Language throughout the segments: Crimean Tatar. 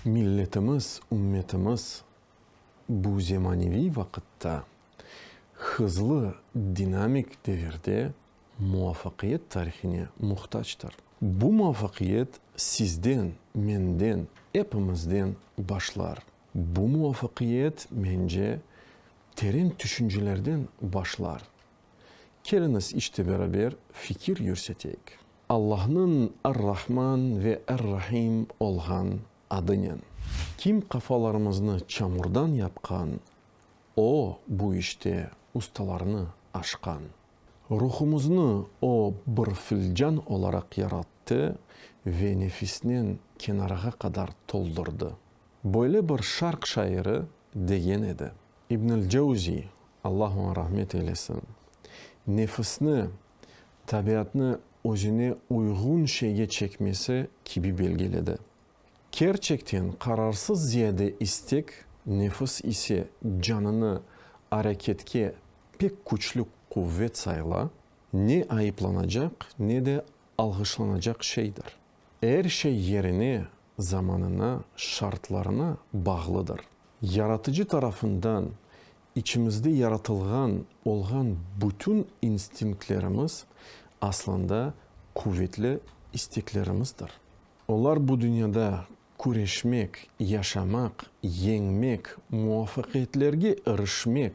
Milletimiz, ümmetimiz bu zemaneviy vaqıtta, hızlı dinamik devirde muvafaqiyet tarihine muhtactır. Bu muvafaqiyet sizden, menden, epimizden başlar. Bu muvafaqiyet, mence, Teren tüşüncelerden başlar. Keliñiz işte beraber fikir yürseteyik. Allahnıñ Ar-Rahman ve Ar-Rahim olğan adınen. Kim qafalarımıznı çamurdan yapqan, O, bu işte ustalarnı aşqan. Ruhumıznı O bir filcan olaraq yarattı ve nefisnen kenarağa qadar toldurdı. Böyle bir şarq şairi degen edi. İbnül Cevzi, Allah oña rahmet eylesin, nefisni, tabiatnı özüne uyğun şeyge çekmesi kibi belgiledi. Kerçekten qararsız ziyade istek, nefis ise canını areketke pek küçlü quvet sayla, ne ayıplanacaq, ne de alğışlanacaq şeydir. Er şey yerine, zamanına, şartlarına bağlıdır. Yaratıcı tarafından içimizde yaratılğan olğan bütün instinktlerimiz aslında quvetli isteklerimizdir. Olar bu dünyada küreşmek, yaşamaq, yeñmek, muvafaqiyetlerge irişmek,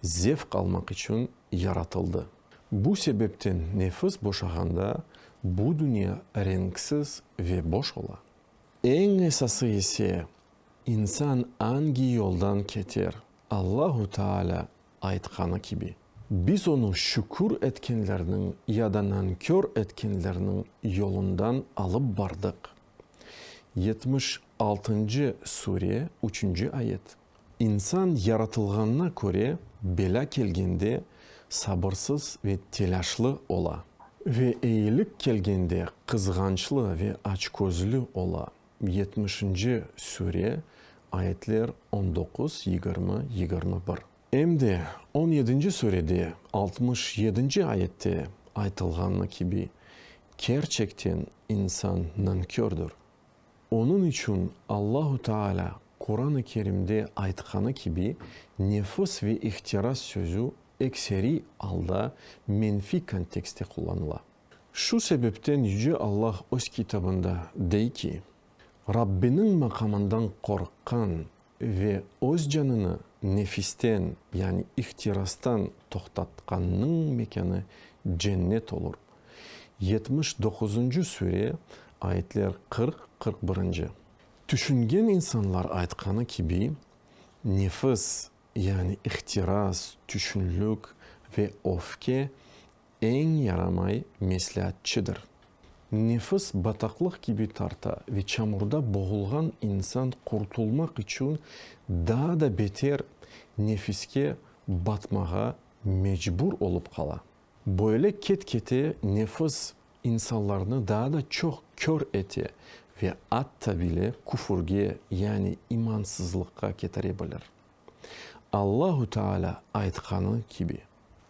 zevq almaq içün yaratıldı. Bu sebepten nefis boşağanda bu dünya renksiz ve boş ola. Eñ esası ise, insan angi yoldan keter? Allahu Taalâ aytqanı kibi, Biz onı şükür etkenlerniñ ya da nankör etkenlerniñ yolundan alıp bardıq. Yetmiş altıncı sure, üçünci ayet. İnsan yaratılğanına köre, belâ kelgende sabırsız ve telâşlı ola. Ve eyilik kelgende qızğançlı ve açközlü ola. Yetmişinci süre, ayetler on doquz, yigirmi, yigirmi bir. Em de on yedinci sürede altmış yedinci ayette aytılğanı kibi, kerçekten insan nankördür. Onıñ içün Allahu Teala Quran-ı Kerimde aytqanı kibi, nefıs ve ihtiras sözü ekseriy alda menfiy kontekstte qullanıla. Şu sebepten Yüce Allah Öz Kitabında dey ki, Rabbiniñ maqamından qorqqan Ve öz canını nefisten, yani ihtirastan toqtatqannıñ mekânı cennet olur. Yetmiş doquzuncı süre, ayetler qırq, qırq birinci. Tüşüngen insanlar aytqanı kibi, nefis, yani ihtiras, tüşünlik ve öfke Eñ yaramay mesleatçıdır. Nefis bataqlıq kibi tarta ve çamurda boğulğan insan qurtulmaq içün daa da beter nefiske batmağa mecbur olıp qala. Böyle ket-kete nefis insanlarnı daa da çoq kör ete ve atta bile küfürge, yani imansızlıqqa ketire bilir. Allahu Teala aytqanı kibi,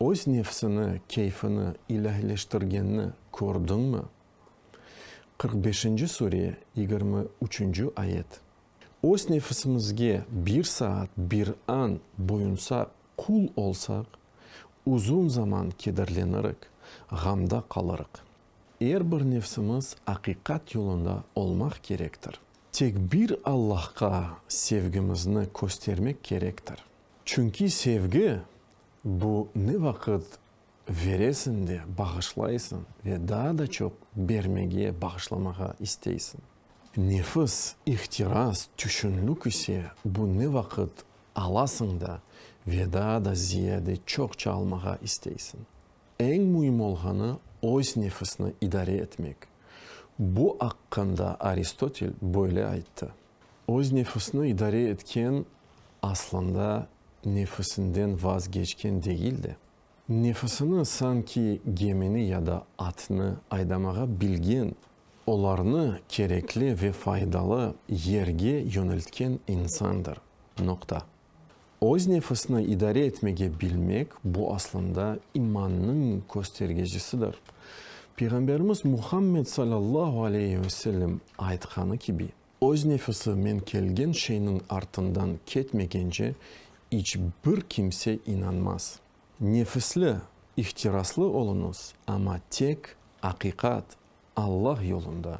öz nefsini, keyfini ilâhileştirgenni kördiñmi? Qırq beşinci sure, yigirmi üçünci ayet. Öz nefisimizge bir saat, bir an boyunsaq, qul olsaq, uzun zaman kederlenirik, ğamda qalırıq. Er bir nefsimiz aqiqat yolunda olmaq kerektir. Tek bir Allahqa sevgimizni köstermek kerektir. Çünki sevgi, bu ne vaqıt veresiñ de bağışlaysıñ ve daa da çoq bermege, bağışlamağa isteysiñ. Nefis, ihtiras, tüşünlük ise, bu ne vaqıt alasıñ da ve daa da ziyade çoqça almağa isteysiñ. Eñ müim olğanı, öz nefisni idare etmek. Bu aqqında Aristotel böyle ayttı, Öz nefisni idare etken, aslında nefisinden vazgeçken degil de, nefisini sanki gemini ya da atnı aydamağa bilgen, olarnı kerekli ve faydalı yerge yöneltken insandır. Noqta. Öz nefisni idare etmege bilmek, bu aslında imannıñ köstergecisidir. Peyğamberimiz Muhammed sallallahu aleyhi ve sellem aytqanı kibi, öz nefisi men kelgen şeyniñ artından ketmegence iç bir kimse inanmaz. Nefisli, ihtiraslı oluñız, amma tek aqiqat, Allah yolunda.